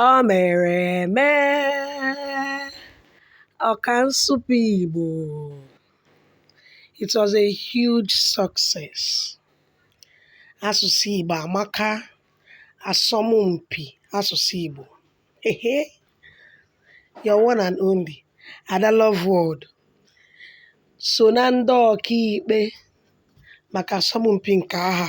O mere eme ọka nsụpe Igbo it was a huge success asụsụ Igbo amaka asọmpi asụsụ Igbo ehe your one and only Ada Love World so na ndị ọkaikpe maka asọmpi nke aha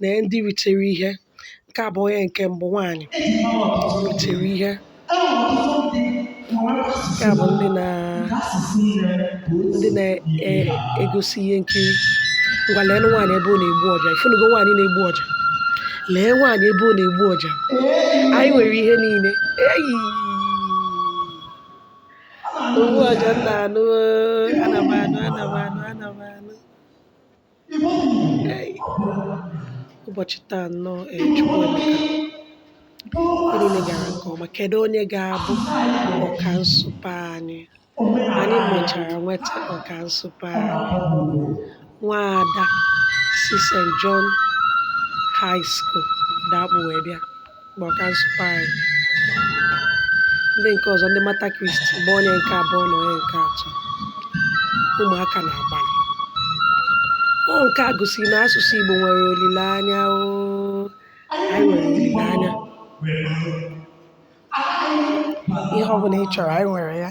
na ndị ritere ihe nke a bụ onye nke mbụ nwaanyị ritere ihe nke a bụ ndị na ndị na-egosi ihe nkiri ngwa leenụ nwaanyị ebe ọ na-egbu ọja ị fụnugo nwaanyị na-egbu ọja lee nwaanyị ebe ọ na-egbu ọja anyị nwere ihe niile eyi ogbu ọja nna anụ ana m anụ ana m anụ ana m anụ Ei. ụbọchị taa nnọọ ee Chukwu emeka ihe niile gara nke ọma kedu onye ga-abụ ọka nsụpe anyị anyị mechara nweta ọka nsụpe anyị nwaada si St. John High School dakpu wee bịa bụ ọka nsụpe anyị ndị nke ọzọ ndị Mater Christi bụ onye nke abụọ na onye nke atọ ụmụaka na-agbalị ọ nke a gosiri na asụsụ Igbo nwere olileanya o anyị nwere olileanya ihe ọ bụla ị chọrọ anyị nwere ya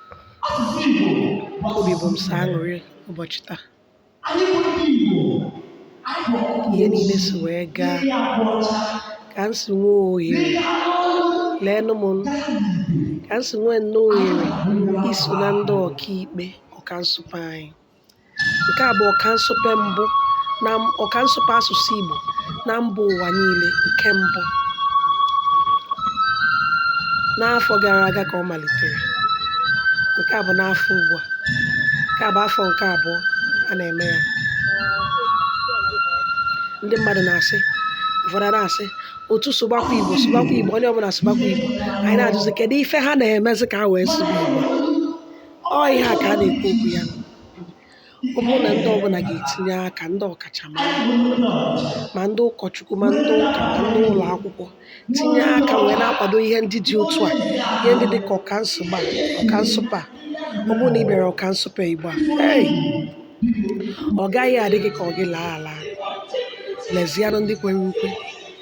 obi bụ m sọ aṅụrị ụbọchị taa ihe niile si wee gaa ka m si nwee ohere leenụ m ka m si nwee nnọọ ohere iso na ndị ọkaikpe ọka nsụpe anyị Nke a bụ ọka nsụpe mbụ na ọka nsụpe asụsụ Igbo na mba ụwa niile nke mbụ. N'afọ gara aga ka ọ malitere. Nke a bụ n'afọ ugbu a. Nke a bụ afọ nke abụọ a na-eme ya. Ndị mmadụ na-asị, ụfọdụ a na-asị, otu sụbakwa Igbo, sụbakwa Igbo, onye ọbụla sụbakwa Igbo. Anyị na-ajụzi kedụ ife ha na-emezi ka ha wee sụba Igbo? Ọ ihe a ka a na-ekwu okwu ya. Ọ bụrụ na ndị ọbụla ga-etinye aka, ndị ọkachamara, ma ndị ụkọchukwu, ma ndị ụka, ma ndị ụlọ akwụkwọ, tinye aka wee na-akwado ihe ndị dị otu a, ihe ndị dị ka ọka nsụpe a. Ọ bụrụ na ị bịara ọka nsụpe Igbo a, hey! ọ gaghị adị gị ka ọ gị laa ala. Lezianụ ndị kwere ukwe,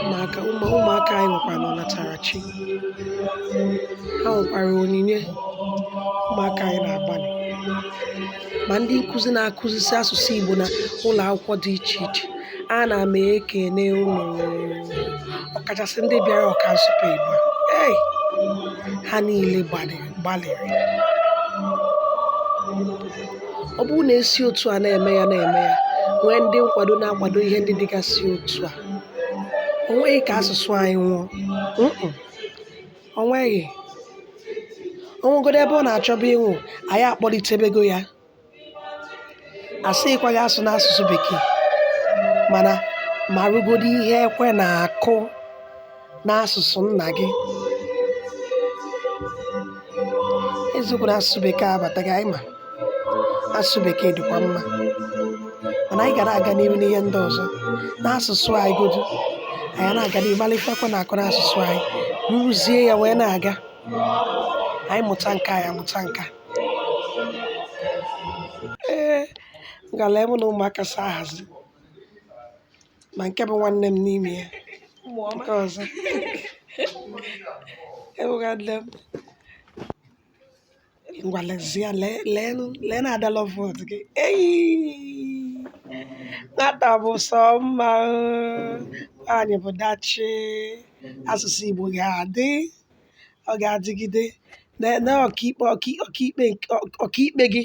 ụmụaka ụmụaka anyị nwekwara ọnatarachi ha nwekwara onyinye ụmụaka anyị na-agbalị ma ndị nkụzi na-akụzisi asụsụ Igbo na ụlọ akwụkwọ dị iche iche ana m ekene unu ọkachasị ndị bịara ọka nsụpe Igbo ei ha niile gbalịrị gbalịrị ọ bụrụ na e si otu a na-eme ya na-eme ya nwee ndị nkwado na-akwado ihe ndị dịgasị otu a o nweghị ka asụsụ anyị nwụọ Mm-mm. o nweghị o nwegodo ebe ọ na-achọba ịnwụ anyị akpọlitebego ya asịghịkwa gị asụna asụsụ bekee mana marụgodo ihe ekwe na-akụ n'asụsụ nna gị eziokwu na asụsụ bekee abataghị anyị ma asụsụ bekee dịkwa mma mana anyị gaara aga n'ihu n'ihe ndị ọzọ n'asụsụ anyị godu anyị na-aga n'ihu malụ ife ekwe na-akụ n'asụsụ anyị rụzie ya wee na-aga anyị mụta nke anyị amụta nke a. ee ngala mụ na ụmụaka so ahazi ma nke bụ nwanne m n'ime ya nke ọzọ awụghị nwanne m ngwa lezie lee lee nụ- lee na Ada Loveworld gị eyi nwata bụ sọ mma o. nwaanyị bụ dachi asụsụ igbo ga-adị ọ ga-adịgide na na ọkaikpe ọkai- ọkaikpe nke- ọkaikpe gị